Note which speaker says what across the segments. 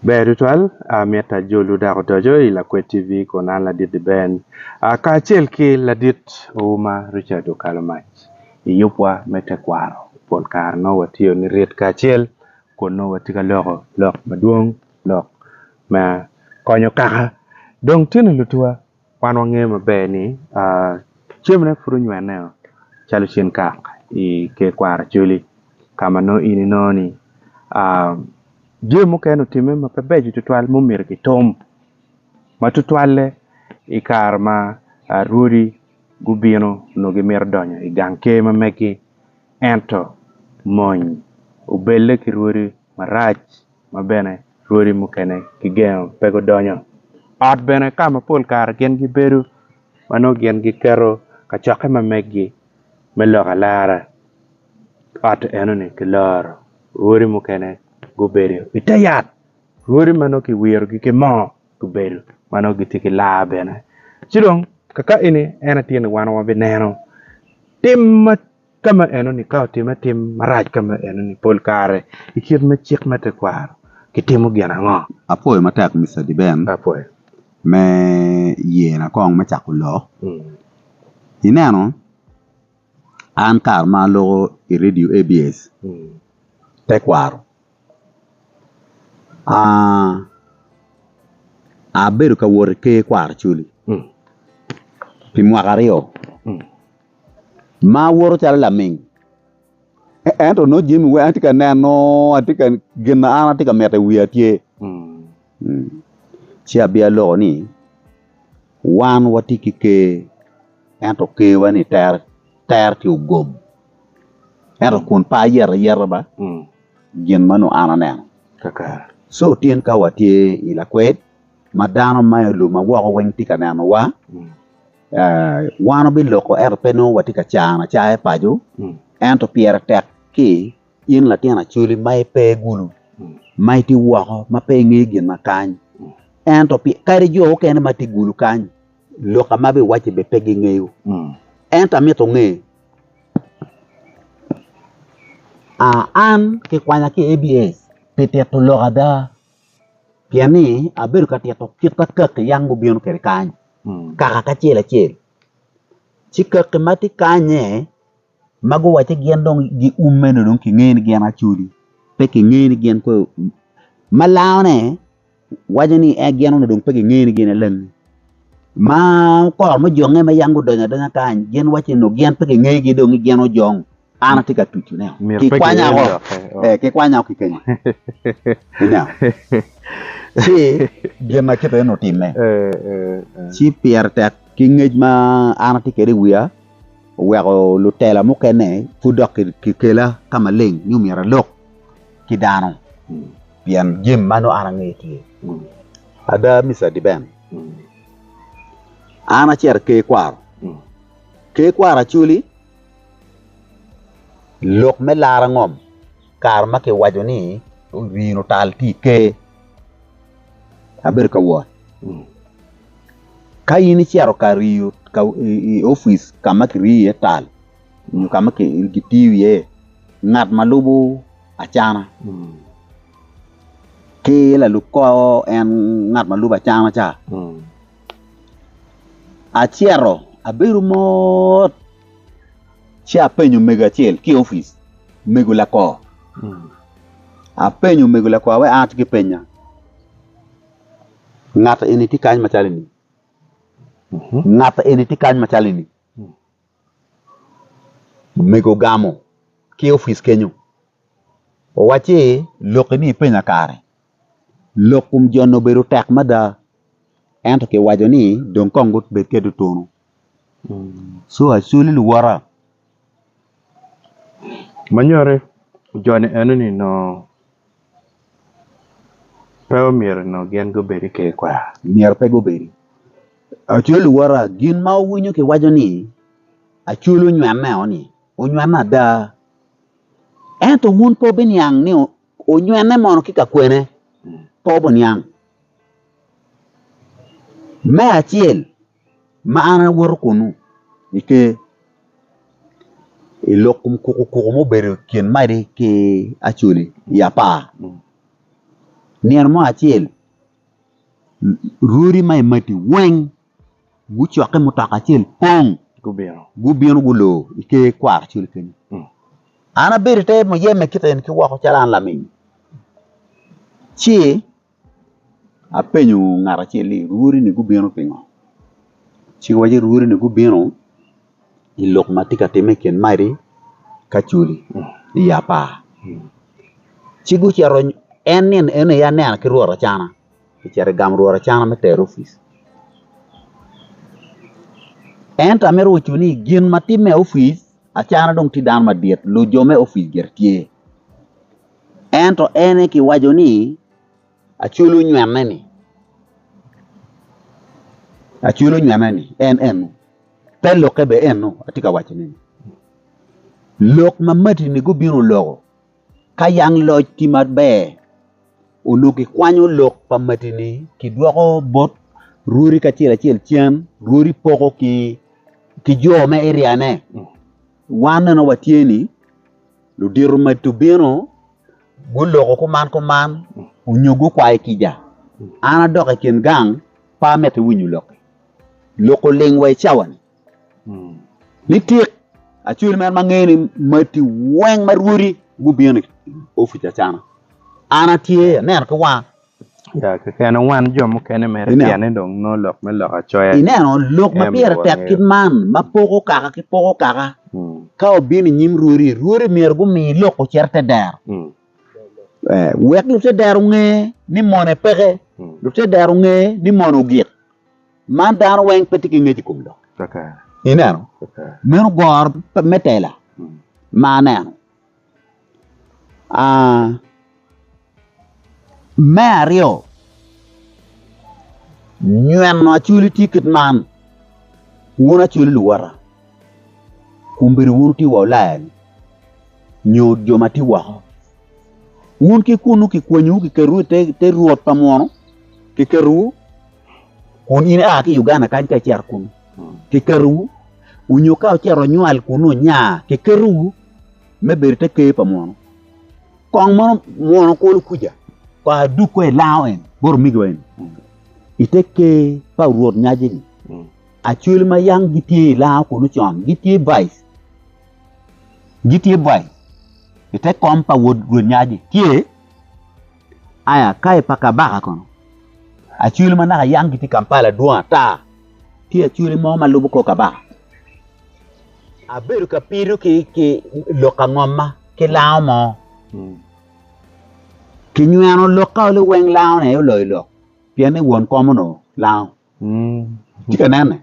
Speaker 1: Ber tutwal, amyero ajol wu dok odoco i Lakwed TV kun an Ladit-ti Ben kacel ki Ladit Ouma Richard Okalomac i yubwa me tekwaro. Pol kare nongo watiyo nirit kacel kun nongo watye ka loko lok madwong, lok ma konyo kaka dong tino lutuwa. Wan wangeyo maber ni cemone pud onywene o calo cen kak i ker kwaro Acholi ka ma nongo in inongo ni jami mukene otime ma pe beco tutwal ma omyero kitum ma tutwalle i kare ma rwodi gubino nongo gimito donyo i gang ker ma megi ento mony obelle ki rwodi marac. ma bene rwodi mukene kigengo pe gudonyo. Ot bene ka ma pol kare gin gibedo ma nongo gin giketo kacokke ma meggi me lok alara, ot enoni kiloro rwodi mukene gubedo i te yat, rwodi ma nongo kiwirogi ki moo gubedo ma nongo gitye ki laa bene. Ci dong kaka eni en aye tye ni wan wabineno tim ma Ka ma enoni, ka otimme tim marac ka ma enoni, pol kare i kit me cik me tekwaro kitimo gin ango? Apwoyo matek Mister
Speaker 2: Deben
Speaker 1: me
Speaker 2: ye na kong me cako lok. Ineno an kare ma aloko i radio ABS tekwaro Abedo ka wot ki ker kwaro cwiny pi mwaka aryo ma awoto calo laming ento nongo jami weng atye ka neno gin ma an atye ka mito i wiya tye ci abino aloko ni wan watye ki ker ento kerwa ni tere tye ogom. Ento kun pe ayeto ayeta ba gin ma onongo an aneno. Co
Speaker 1: tyen ka
Speaker 2: watye i lakwed ma dano ma i lum ma woko weng tye ka nenowa, wan wabiloko ento pe nongo watye ka cano acaya paco ento pyere tek ki in latin acoli ma ipe gulu ma itye woko ma pe ingeyo gin ma kany ento kadi jo mukene ma tye gulu kany lok ma biwacci bene pe gingeyo ento amito nge An kikwanya ki i ABS pi tito lok ada pien ni abedo ka tito kit ma kaki yam gubino kwede kany kaka ki acel acel ci kaki ma tye kany-nye ma guwacci gin dong giume ni dong kingeyo ni gin acholi pe kingeyo ni gin kong ma langone. Waco ni en gin onongo dong pe gingeyo ni gin alangi. Ma kor me jonge ma yam gudonyo adonya kany, gin waco ni onongo gin pe gingegi dong ni gin ojong. An atye ka tucu ne. Myero pe Kikwanya ginen woko. dokke. Oh. Eh, kikwanya woko ki kenya. Ineno? Ci gin ma kite onongo timme. Eh, eh, eh. Ci pire tek ki ngec ma an atye kwede i wiya, oweko lutela mukene pud dok ki- kikela ka maleng ni myero alok ki dano. Pien jami ma nongo an angeyo tye. Ada, Mister Dibem, an acito i Ker Kwaro. Ker Kwaro Acholi, lok me laro ngom kare ma kiwaco ni rin otal tye i Ker. Abedo ka wot. Ka in icito ka riyo i opic ka ma kiriyo iye tal, nyo ka ma kitiyo iye ngat ma lubo acana ki lalub kor en ngat ma lubo acana ca, acito abedo mot ci apenyo omego acel ki i opic, omego lakor apenyo omego lakor ma an atye ki penya ngat eni tye kany macalo ni ngat eni tye kany macalo ni. Omego ogamo ki opic kenyo owacci, Lok eni ipenya kare, lok kom jo-ni obedo tek mada ento kiwaco ni dong kong gubed kwede otunu. Co acoli luwota.
Speaker 1: Ma nyuto ni jo-ni enoni nongo. Pe omyero onongo gin gubedi ki i kwena. Myero pe gubedi.
Speaker 2: Aco luwota, gin ma wuwinyo kiwaco ni Acol onywene-o ni, onywene ada. Ento wun pe wubiniang ni onywene mono ki ka kwene. Pe wubiniang. Me acel. Ma an awoto kunnu i Ker, i lok kom kukukuku mubedo i kin maci ki acoli i apar. Nino mo acel, rwodi ma i mati weng gucokke mutoka acel pong gubino gulor i Ker kwaro acol kenyo. An abedo i te muyeme kit eni ki woko calo an lamingo ci Apenyo ngat acel ni lwori ni gubino pingo ci owach ni lwori ni gubino pi lok ma tye ka timme i kin maci ki acoli i apar ci gucito en nino eno aye anena ki rwot acana kicito i gang rwot acana me tero opic ento amito kobo ni gin ma timme i opic acana dong tye dano madit lujo me opic gire tye. Ento en aye kiwaco ni, Aculo nywene-ni, aculo nywene-ni, en eno. Te lokke bene eno, atye ka waconi ni, lok ma matini gubino loko. Ka yang loc tye maber, onongo kikwanyo lok pa matini kidwoko bot rwodi kacel acel cen, rwodi poko ki jo me eriane. Wan bene watye ni. Ludito ma tubino guloko kuman kuman onyo gukwayo kica. An adok i kin gang, pe amito winyo lokki. Lok oling wa i cawa-ni. Nitik, acwali mere ma ngeyo ni mati weng ma rwodi gubino i opic acana. An atye aneno ki wanga
Speaker 1: Ineno lok ma
Speaker 2: pire tek kit man ma poko kaka ki poko kaka ka obino i nyim rwodi, rwodi myero gumi lok ocit i te dero wek lute dero onge ni mone peke, lute dero onge ni mone ogik. Man dano weng pe tye ki ngec i kom lok. Ineno meno goro me tela ma aneno. Me aryo nyweno acwali tye kit man wun acwali luwotta omyero wun wuti wa wulaya-ni nyo jo ma tye woko wun ki kunnu kikwanyowu kiketowu i te rwot pa munu kiketowu. kun in ia ki i Uganda kany ka icito kunu, kiketowu, onyo ka ocito onywal kunu onya, kiketowu me bedo te ker pa munu. Kong mono munu kulu kuca, kong adug kong ilango en, bot omigowa en, i te ker pa Rwot Nyazi-ni. Acwele ma yam gitye i lango kunu con, gitye bac, gitye bac i te kom pa Rwot Nyazi, tye, Aya ka i pa kabaka kono, acwele ma naka yam gitye i Kampala dwong ata. Tye acwele mo ma lubo kor kabaka. Abedo ka pido ki lok angomma ki lango mo. Kinyweno lokka oli weng lango aye oloyo lok pien ni won kom onongo lango. Itye ka nene?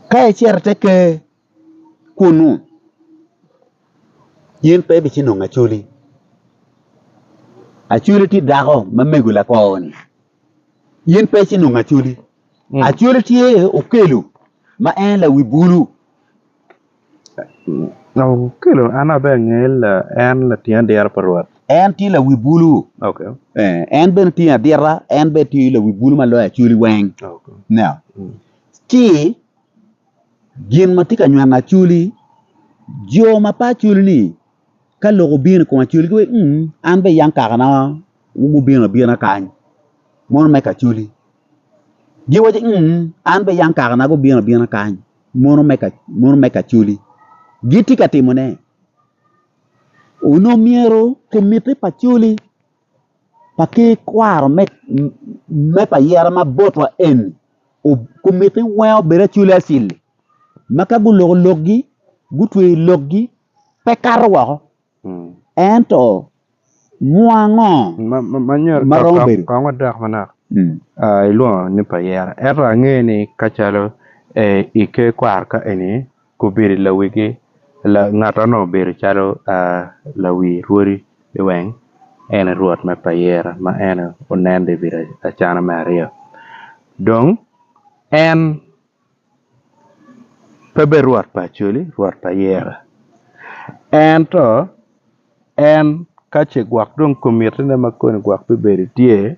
Speaker 2: Ka icito i te ker. kunnu in pe ibici nongo Acoli. Acoli tye dako ma mego lakwor-ni. In pe ici nongo Acoli. Acoli tye okelo ma en lawi bulu.
Speaker 1: Okelo an aye abed angeyo ni en lating adita pa Rwot. En tye lawi
Speaker 2: bulu.
Speaker 1: En bene
Speaker 2: otingo adita, en bene tye lawi bulu ma loyo Acoli weng. Ci. Gin ma tye ka nywano acwli, jo ma pe acwli ni ka lok obino i kom acwli giwaco ni uu an bene yam kakana gubino abina kany mono me ka acwli giwaco ni uu an bene yam kakana gubino abina kany mono me ka acwli gitye ka timone onongo myero kumitti pa acwli. ma ki kwaro me pa yere ma botwa eni kumiti weng obed acwili acwili ma ka guloko lokgi gutweyo lokgi pe kato woko ento mwuwa ango
Speaker 1: ma romo bedo kong adok manok ilwongo ni pa yere ento ange ni kacalo ike kwaro ka eni Gubedo i lawigi, ngattono obedo calo lawi rwodi liweng, en aye rwot me payera ma en aye onen dong i bedo acana me aryo. Dong en pe bedo rwot pa Acholi, rwot pa Yera. Ento en ka ce gwok dong komitine ma koni gwok bibedo tye,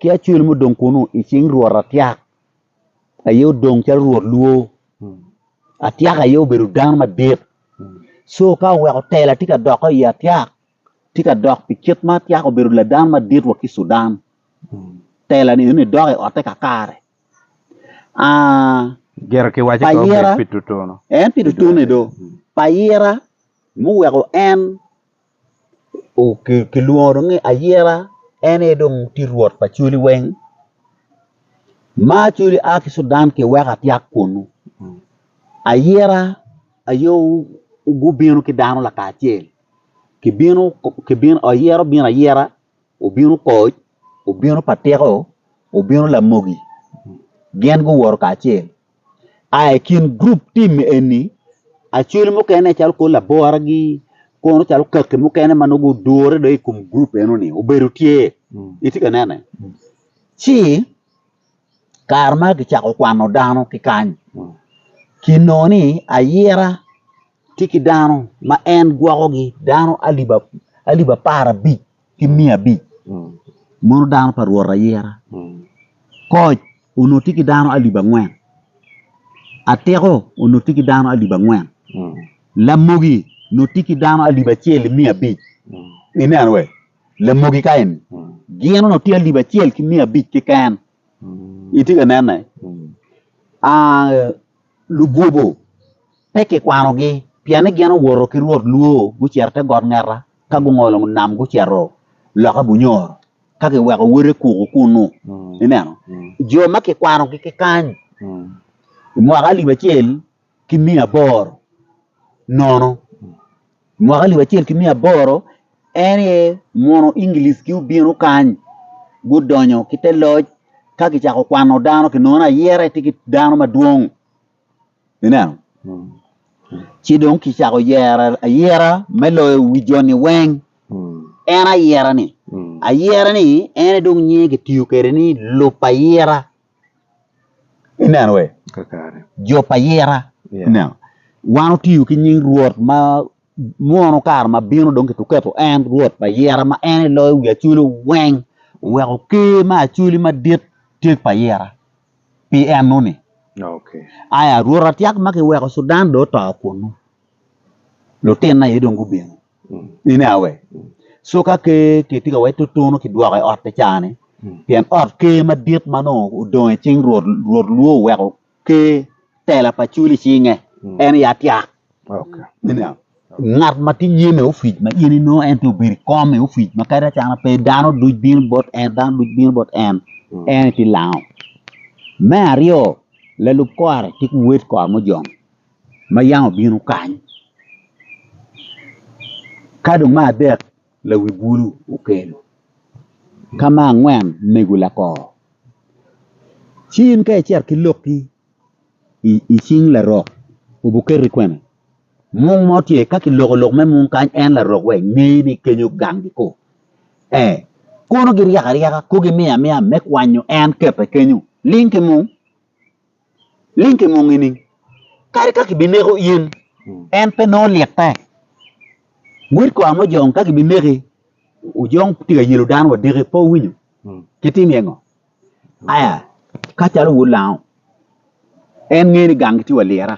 Speaker 2: ki acwel mo dong kunu i cing Rwot Atyak aye odong calo Rwot lwor. Atyak aye obedo dano madit. Co ka oweko tela tye ka dokke i Atyak, tye ka dok pi kit ma Atyak obedo ladan madit wa ki i Cudan. Tela ni eni dok i otte kakare. Ah,
Speaker 1: Gire ki waci Pa ko ira. bed pi tutunu. en pi tutune do.
Speaker 2: Pa ira muweko en kilwongo ni ayira en aye dong tye rwot pa cwali weng ma cwali a ki Cudan ki weko atyaka kunu ayira aye gubino ki dano lakacel kibino kibino ayira obino ayira obino koc obino pa tiko obino lamogi gin guwoto kacel. aa i kin gurup tim eni acwele mukene calo kor laboragi kono calo kaki mukene ma nongo gudure dong i kom gurup enoni obedo tye, itye ka nene? Ci kare ma kicako kwano dano ki kany kinongo ni ayira tye ki dano ma en gwokogi dano alip apar abic ki miya abic mono dano pa Rwot ayira. Koc onongo tye ki dano alip angwen, atiko onongo tye ki dano alip angwen, lamogi onongo tye ki dano alip acel ki miya abic. Ineno wee? Lamogi ka eni gin onongo tye alip acel ki miya abic keken. Itye ka nene? Ah, lugobo pe kikwanogi pien ni gin owoto ki Rwot lwoo gucito i te got ngeta. Ka gungolo nam gucito loka bunyoro, ka giweko wote kuku kunnu, ineno, jo ma kikwanogi ki kany i mwaka alip acel ki miya aboro nono, i mwaka alip acel ki miya aboro, en aye mono Englic-ki obino kany, gudonyo ki te loc, ka kicako kwano dano, kinongo ni ayera aye tye ki dano madwong. Ineno? Ci dong kicako yero ayera me loyo wi joni weng. En ayera-ni, ayera-ni en aye dong nyinge kitiyo kwede ni lub ayera. Ineno wee? Jub ayera. Ineno? Wan otiyo ki nying Rwot ma mwono kare ma bino dong kituketo en Rwot pa ayera ma en aye loyo wi acoli weng, oweko Ker ma acoli madit tye pa ayera. pi enoni. Aya, Rwot atyak ma kiweko Cudan dong oto kunnu, lutinna aye dong gubino. Ine awe, coka ker kitye ka wacci tutunu kidwoko i otte caa-ni, pien ot ker madit ma nongo odong i cing Rwot, Rwot lwor oweko ker. tela pa cul i cinge, en aye atyak. Ineno? Ngat ma tye nyim i opic ma in inongo en tye obedo i kom i opic ma kadi acana pe dano duc bino bot en, dano duc bino bot en, en aye tye lango. Me aryo, lalub kore tye ki wed kore mo jong ma yam obino kany. Ka dong me adek, lawi bulu okelo. Ka me angwen, mego lakor. Ci in ka icito ki lokki i cing larok obuketi kwene mung mo tye ka kiloko lok me mung kany en larok wa ingeye ni kenyo gang gi ko ee kono giryaka ryaka ko gimiyo amiya me kwanyo en kete kenyo ling ki mung ling ki mung ining kadi ka kibineko in en pe nongo litte wod kwar mo jong ka kibineki ojong tye ka yelo dano wadeke pe owinyo kitimi engo Aya ka calo wulango en ngeyo ni gangi tye wa lira,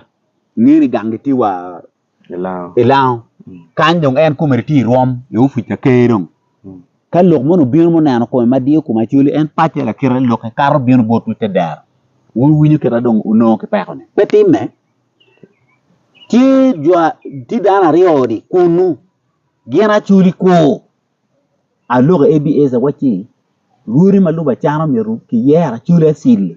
Speaker 2: ngeyo ni gangi tye wa ilango kany dong en kome tye i rwom i opic ka ker dong ka lok moni obino ma oneno kome ma diyo kome acwali en pacce lakite lokke kato bino botwu ite dero wuwinyo kite dong wunongo ki peko ni pe timme tye dano aryo-ni kunu gin acwali kur. Alwongo Abiezer wa ci lwoti ma lüb acana myero ki yer acwli acwli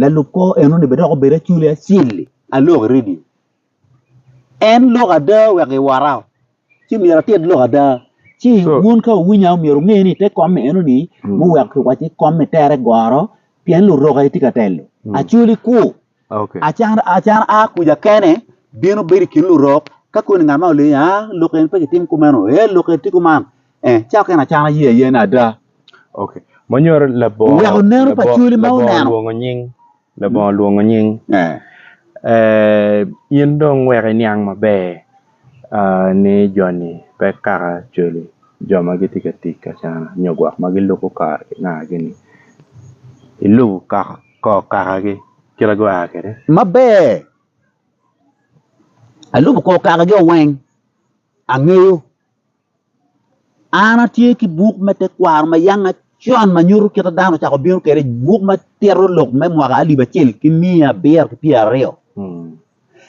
Speaker 2: lalub kor eno ni dok obed acwli acwli alwok i radio en lok ada wek gi wora oo ci myero atit lok ada ci wun ka wuwinya myero wunge ni te kom eno ni muweko ki waco i kom me tere goro pien luroki tye ka telo acwli kur.
Speaker 1: Acan a
Speaker 2: kuca kene bino bedo i kin lurok ka koni ngat ma olio ni aa lok eni pe kitim kumeno ee lok eni tye kuman ee ca okene acan aye aye ni ada
Speaker 1: oweko neno pa cwali
Speaker 2: ma oneno
Speaker 1: labongo olwongo nying in dong wek iniang maber ni joni pe kaka cwali jo ma gitye ka tic ki acana nyo gwok ma gilubo kare ki nangagi ni ilubo kaka. kor kakagi kite gua kwede. Maber,
Speaker 2: alubo kor kakagi-o weng, angeyo. An atye ki buk me tekwaro ma yang acon ma nyuto kite dano ocako bino kwede, buk ma tito lok me mwaka alip acel ki miya abiro ki pyera aryo.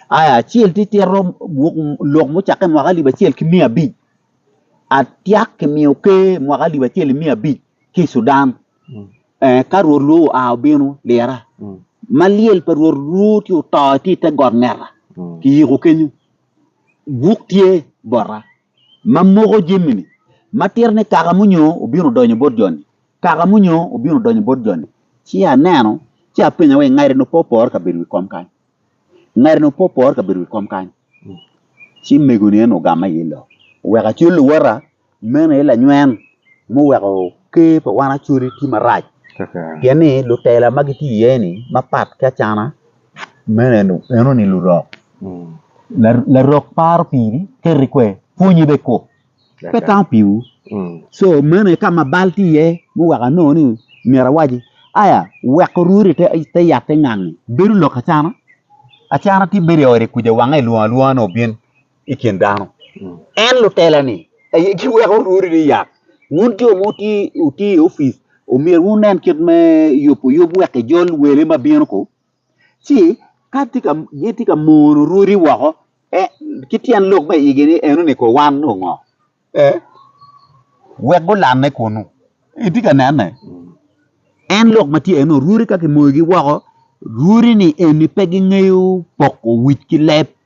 Speaker 2: Aya acel tye tito buk lok mucakke mwaka alip acel ki miya abic, atyak kimiyo ker mwaka alip acel ki miya abic ki i Sudan. Ka Rwot lwor oa obino, lira, ma lyel pa Rwot lwor tye oto tye i te got ngeta, kiyiko kenyo. Buk tye bota, ma moko jamini, ma tito ni, Kaka munyo obino donyo bot joni, kaka munyo obino donyo bot joni. Ci aneno, ci apenyo ni, Ngati-ni opopore ka bedo wi kom kany? Ngati-ni opopore ka bedo wi kom kany? Ci megoni en ogama iye lok, oweko acol luwota. Meno aye lanywen muweko ker pa wan Acholi tye marac pien ni lutela ma gitye iye ni mapat ki Acana meno enoni lurok, larok paro piri keri kwe pwonyi bene kok pe tamo piwu co meno aye ka ma bal tye iye muweko anongo ni myero awaci aya wek orwodi ite yat te ngangi bedo lok Acana, Acana tye bedo i ode kuca wange lwongo alwonga ni obin. i kin dano. En lutela-ni aye giweko rwodi ni yat. Wun jo ma wutye i opic, myero wunen kit me yuboyub wek kijol wele ma bino ko, ci ka gitye ka mono rwodi woko, ki tyen lok me igi ni, 'Enoni ko wan nyo ngo? wek gulanne kunnu. Itye ka nene? En lok ma tye enoni, rwodi ka kimoyogi woko, rwodi-ni eni pe gingeyo poko wic ki leb.